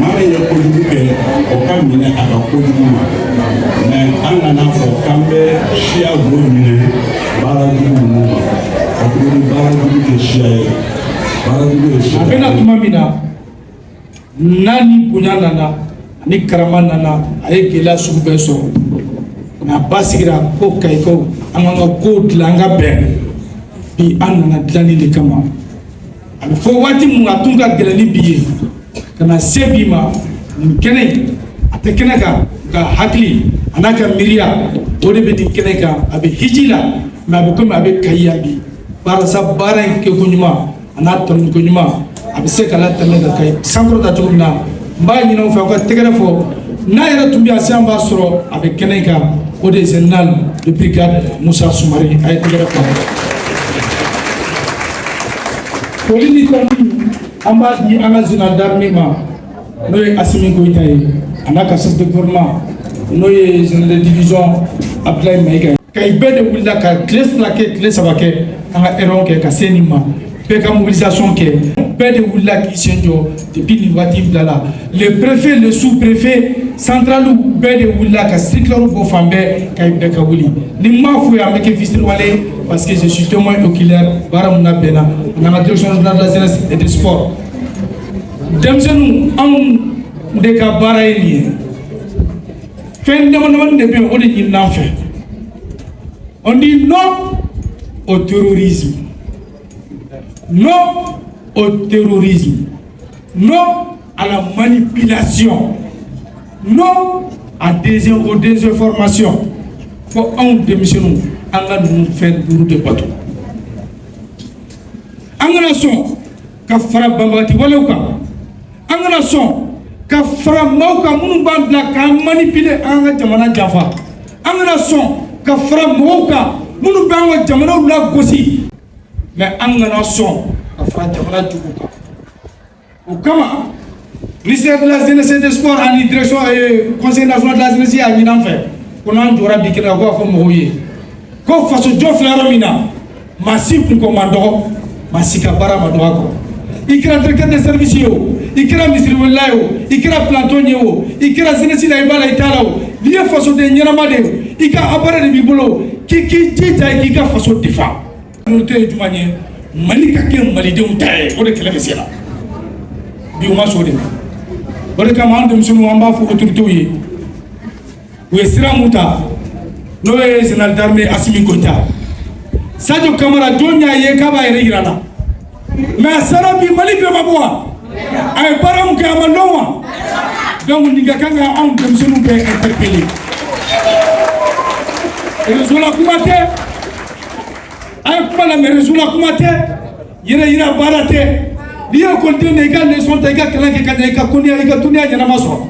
maa min ye kojugu kɛ o ka minɛ a ka kojugu ma mais an kana fɔ k'an bɛ siya o minɛ baara jugu ninnu ma katuguni baara jugu tɛ siya ye baara jugu ye siya ye. a bɛna tuma min na. n'a ni bonya nana a ni karama nana a ye gɛlɛya sugu bɛɛ sɔrɔ nka a basigira ko kayikaw an k'an ka kow dilan an ka bɛn bi an nana dilanni de kama a bɛ fɔ waati min a tun ka gɛlɛn ni bi ye ka na se bi ma nin kɛnɛ in a tɛ kɛnɛ kan nka hakili a n'a ka miiriya o de bɛ nin kɛnɛ kan a bɛ hiji la mais a bɛ komi a bɛ kayi yan bi barisa baara in kɛko ɲuman a n'a tɔnni ko ɲuman a bɛ se ka latɛmɛ ka kɛ sankɔrɔta cogo min na n b'a ɲini aw fɛ aw ka tɛgɛrɛ fɔ n'a yɛrɛ tun bɛ yan sisan b'a sɔrɔ a bɛ kɛnɛ kan o de ye général de brigade musa sumare a ye tɛgɛrɛ fɔ foli ni tanuni an b'a di an ka général d'armée ma n'o ye asimi goyita ye a n'a ka chef de gouvernement n'o ye général de division abdulayi mayiga ye kayi bɛɛ de wulila ka tile fila kɛ tile saba kɛ an ka réunion kɛ ka se nin ma bɛɛ ka mobilisation kɛ bɛɛ de wulila k'i sen jɔ depuis nin waati bila la le préfet le sous préfet centraliw bɛɛ de wulila ka circulaire bɔ fan bɛɛ ko bɛɛ ka wuli ni n m'a f'u ye an bɛ kɛ fitiriwale parce que je suis témoin oculaire baara mun na bɛnna an ka direction de la jeunesse et des sports denmisɛnninw anw de ka baara ye nin ye fɛn damadamanin de bɛ yen o de ɲinin'an fɛ on dit non au terrorisme non au terrorisme non à la manipulation non à des aux désinformations fo anw denmisɛnninw an ka ninnu fɛn duuru de bato an kana sɔn ka fara banbagati walew kan an kana sɔn ka fara maaw kan minnu b'an bila k'an manipuler an ka jamana janfa an kana sɔn ka fara mɔgɔw kan minnu b'an ka jamanaw lagosi mais an kana sɔn ka fara jamana jugu kan o kama Ministère de la jeunesse et des sports ani direction euh, conseil national de la jeunesse y'a ɲin'an fɛ ko n'an jɔra bi kɛnɛ kan ko a fɔ mɔgɔw ye ko faso jɔ filɛ yɔrɔ min na maa si kunko man dɔgɔ maa si ka baara man dɔgɔ a kɔrɔ i kɛra directeur de service ye o i kɛra misiriwelela ye o i kɛra planton ye o i kɛra jeunesse la i b'a la i t'a la o n'i ye fasoden ɲɛnama de ye i ka appareil de b'i bolo k'i k'i jija i k'i ka faso défend N'o tɛ ye jumɛn ye mali ka kɛ malidenw ta ye o de kɛlɛ bɛ sen na bi u ma sɔn o de ma o de kama an denmisɛnninw an b'a fɔ autoritew ye u ye sira min ta n'o ye général d'armée assimi goita sadio kamara jɔn y'a ye k'a b'a yɛrɛ jira la mais a sara bi mali bɛɛ ma bɔ wa a ye baara min kɛ a ma dɔn wa donc nin ka kan ka anw denmisɛnninw bɛɛ interpellé réseau la kuma tɛ a ye kuma lamɛn réseau la kuma tɛ yɛrɛ yira baara tɛ n'i ye ekɔliden de i ka leçon ta i ka kalan kɛ ka ɲɛ i ka dɔnniya i ka dɔnniya ɲɛnama sɔrɔ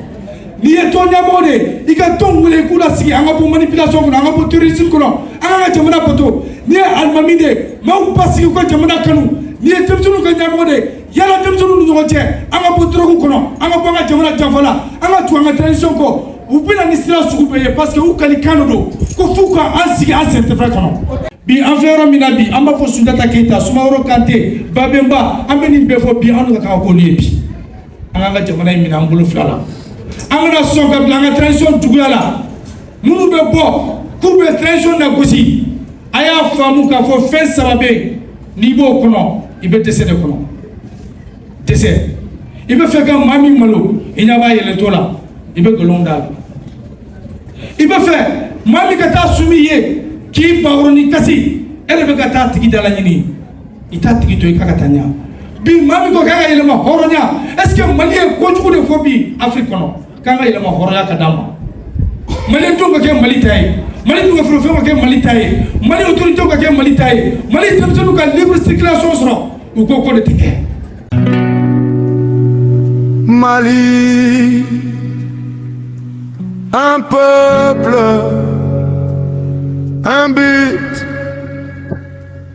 n'i ye tɔn ɲɛmɔgɔ de ye i ka tɔn wele i k'u lasigi an ka bɔ manipulation kɔnɔ an ka bɔ terrorisme kɔnɔ an k'an ka jamana bato n'i ye alimami de ye maaw basigi u ka jamana kanu n'i ye denmisɛnninw ka ɲɛmɔgɔ de ye yaala denmisɛnninw ni ɲɔgɔn cɛ an ka bɔ drogue kɔnɔ an ka bɔ an ka jamana janfa la an ka tugu an ka tradition kɔ u bɛna ni sira sugu bɛɛ ye parce que u kalikan de don ko f'u ka an sigi an sentɛfɛ kɔnɔ bi an filɛ yɔrɔ min na bi an b'a fɔ sunjata keyita sumaworo kante babenba an bɛ nin bɛɛ fɔ bi an ka kan ka ko nin ye bi an k'an ka jamana in minɛ an bolo fila la an kana sɔn ka bila an ka transition juguya la minnu bɛ bɔ k'u bɛ transition nagosi a y'a faamu k'a fɔ fɛn saba bɛ yen n'i b'o kɔnɔ i bɛ dɛsɛ de kɔnɔ dɛsɛ i bɛ fɛ ka maa min malo i ɲɛ b'a yɛlɛntɔ la i bɛ nkalon d'a la i bɛ fɛ maa min ka taa sumi ye k'i baworo ni kasi e de bɛ ka taa a tigi dalaɲini i t'a tigi to i k'a ka taa ɲa bi maa min ko k'an ka yɛrɛmahɔrɔnya est ce que mali ye kojugu de fɔ bi afiriki kɔnɔ k'an ka yɛrɛmahɔrɔnya ka d'an ma mali denw ka kɛ mali ta ye mali dugujukɔrɔfɛnw ka kɛ mali ta ye mali autoritew ka kɛ mali ta ye mali denmisɛnninw ka libre circulation sɔrɔ u ko k'o de tɛ kɛ mali un peuple un but